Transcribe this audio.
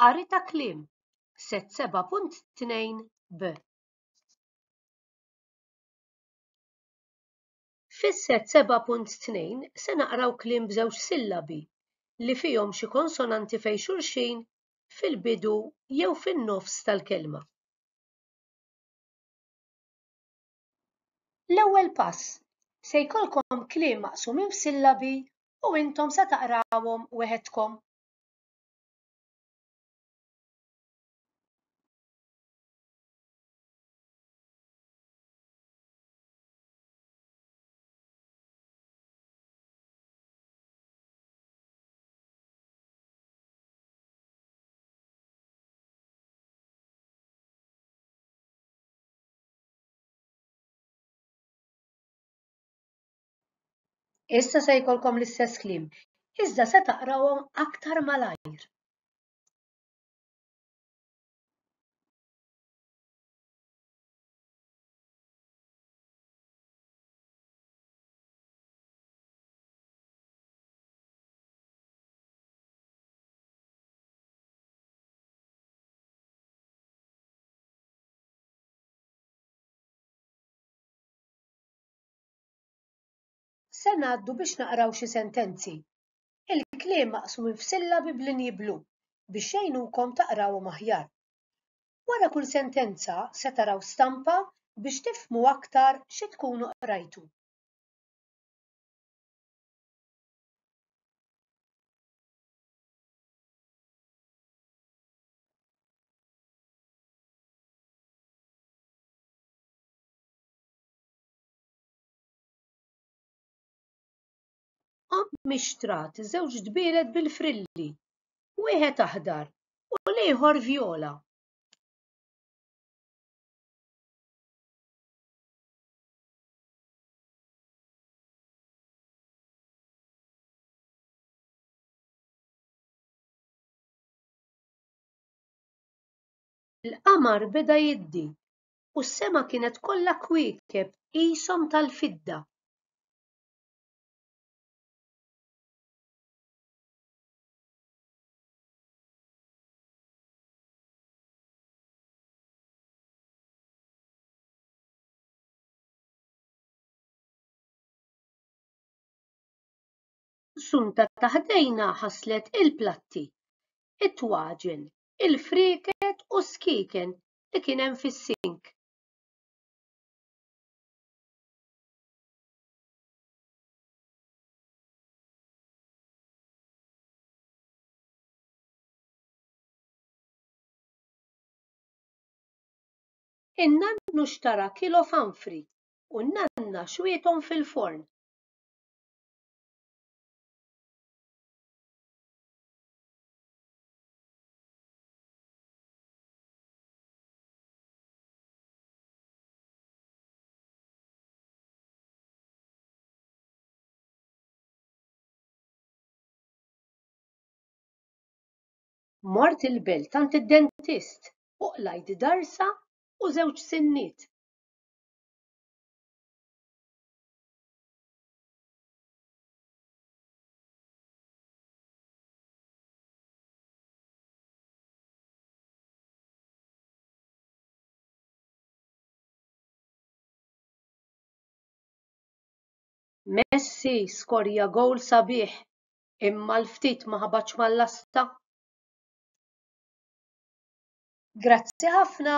Qari ta' kliem, set 7.2 b. Fis-set 7.2 se naqraw kliem b'żewġ sillabi li fihom xi konsonanti fejn xulxin fil-bidu jew fin-nofs tal-kelma. L-ewwel pass, se jkollkom kliem maqsumin f'sillabi u intom se taqrawhom weħedkom. Issa se jkollkom l-istess kliem, iżda se taqrawhom aktar malajr. Se ngħaddu biex naqraw xi sentenzi. Il-kliem maqsum f'sillabi b'linji blu biex jgħinukom taqrawhom aħjar. Wara kull sentenza se taraw stampa biex tifhmu aktar xi tkunu qrajtu. Ommi xtrat żewġ dbielet bil-frilli, wieħed aħdar u l-ieħor vjola. il-qamar beda jiddi u s-sema kienet kollha kwiekeb qishom tal-fidda. Sunta ta' ħdejna ħaslet il-platti, it-twaġen, il-frieket u s-skieken li kien hemm fis-sink. In-nannu xtara kilo fanfri u n-nanna xwiethom fil-forn. Mort il-belt għand id-dentist u qlajt darsa u żewġ sinniet. Messi skorja gowl sabiħ imma l-ftit ma ħabatx mal-lasta. Grazzi ħafna!